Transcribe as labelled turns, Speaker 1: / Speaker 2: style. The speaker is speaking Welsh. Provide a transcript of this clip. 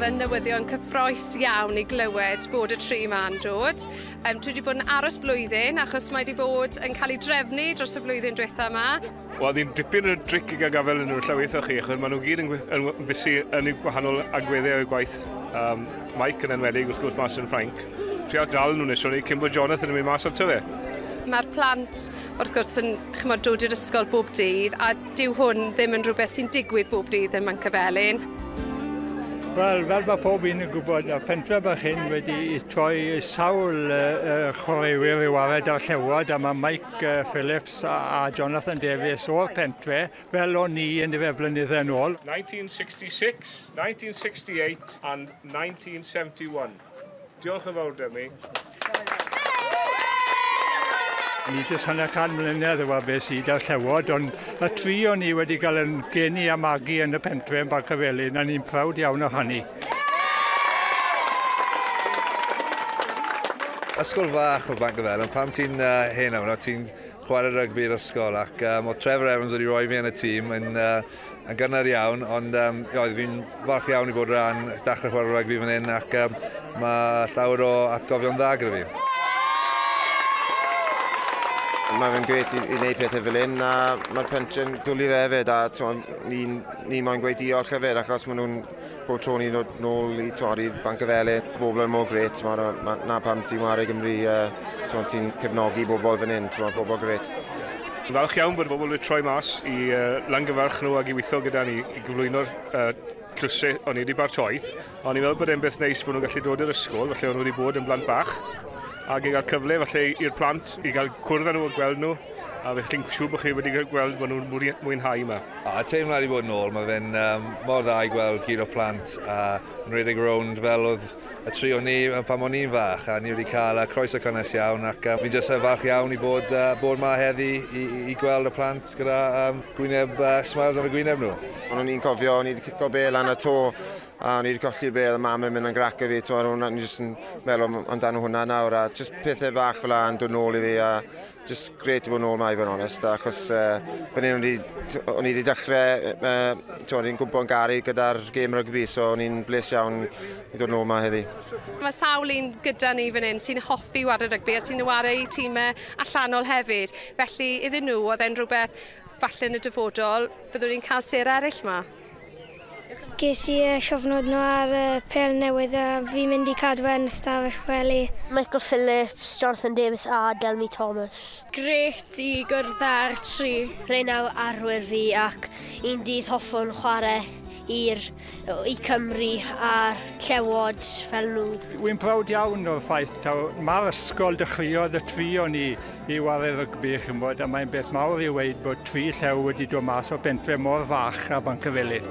Speaker 1: oedd yn newyddion cyffroes iawn i glywed bod y tri ma'n dod. Um, dwi wedi bod yn aros blwyddyn achos mae wedi bod yn cael ei drefnu dros y flwyddyn diwetha yma. Wel, ni'n dipyn o dric i gael gafael yn nhw llaweithio chi, achos maen nhw gyd yn, yn fysu yn eu gwahanol agweddau o'i gwaith. Um, Mike yn enwedig, wrth gwrs, mas yn Ffrainc. Trio dal nhw'n nesio ni, cyn bod Jonathan yn mynd mas ato fe. Mae'r plant, wrth gwrs, yn chymod, dod i'r ysgol bob dydd, a dyw hwn ddim yn rhywbeth sy'n digwydd bob dydd yn Mancyfelin. Wel, fel mae pob un yn gwybod, y pentref bach hyn wedi troi sawl uh, chwaraewyr i wared ar llewod, a mae Mike Phillips a Jonathan Davies o'r pentre fel o'n ni yn fe blynyddau yn ôl. 1966, 1968 and 1971. Diolch yn fawr, Demi. Ni jyst hanner can mlynedd yw be sydd da'r llewod, ond y tri o'n ni wedi cael yn geni a magu yn y pentre yn Barcafelin, a ni'n prawd iawn o hynny. Ysgol fach o Bank of Ellen, pam ti'n uh, hen amno, ti'n chwarae rygbi i'r ysgol ac um, oedd Trevor Evans wedi rhoi fi yn y tîm yn, uh, yn gynnar iawn, ond um, oedd fi'n falch iawn i bod rhan dachrau chwarae rygbi fan hyn ac um, mae llawer o atgofion dda gyda fi. Mae fe'n gret i, i wneud pethau fel hyn a mae'r pensiwn dwlu fe hefyd a ni'n ni moyn gweud diolch hefyd achos maen nhw'n Bob tro ni'n dod nôl i tywed, i'r Banc y Fele, bobl yn mor gret, mae yna ma, na pam ti'n wario Gymru, uh, ti'n cefnogi bobl fan hyn, ti'n pobl gret. Yn falch iawn bod bobl wedi troi mas i uh, langyfarch nhw ac i weithio gyda ni i gyflwyno'r uh, tlwysau o'n i wedi bartoi. A o'n i'n meddwl bod e'n beth neis bod nhw'n gallu dod i'r ysgol, felly o'n nhw wedi bod yn blant bach, ac i gael cyfle felly i'r plant i gael cwrdd â nhw a gweld nhw A fe chi'n siŵr bod chi wedi gweld bod nhw'n mwynhau yma? O, y teimlad i fod yn ôl, mae fe'n um, mor dda i gweld gyd o plant a yn rhedeg rownd fel oedd y tri o ni pan o'n i'n fach a ni wedi cael uh, croeso cynnes iawn ac um, fi'n jyst uh, falch iawn i bod, uh, bod ma heddi i, i, i gweld y plant gyda um, gwyneb uh, smiles ar y gwyneb nhw. Ond o'n i'n cofio, o'n i wedi cico be lan y to a o'n i wedi colli be, a mam yn mynd yn grac i fi, ti'n meddwl, o'n i'n jyst yn meddwl amdano hwnna nawr, a jyst pethau bach fel yna yn dod nôl i fi, a Just great i fod yn ôl mae fe'n onest, achos uh, fan hyn o'n i wedi dechrau, uh, o'n i'n gwybod yn garu gyda'r gêm rygbi, so o'n i'n bles iawn i ddod yn ôl mae heddi. Mae sawl un gyda ni fan hyn sy'n hoffi wario rygbi a sy'n wario i tîmau allanol hefyd, felly iddyn nhw oedd e'n rhywbeth falle yn y dyfodol, byddwn ni'n cael ser eraill yma. Ges i y cyfnod nhw ar y pel newydd a fi'n mynd i cadw fe'n ystafell wely. Michael Phillips, Jonathan Davies a Delmi Thomas. Grêt i gwrdd â'r tri. Rhein yw arwyr fi ac un dydd hoffwn chwarae i'r i Cymru a'r Llewod fel nhw. Wy'n browd iawn o'r ffaith taw 'ma'r ysgol dechreuodd y tri o ni. i ware rygbi, chi'n gwybod, a mae'n beth mawr i weid bod tri llew wedi dod mas o bentre mor fach a Bancyfelin.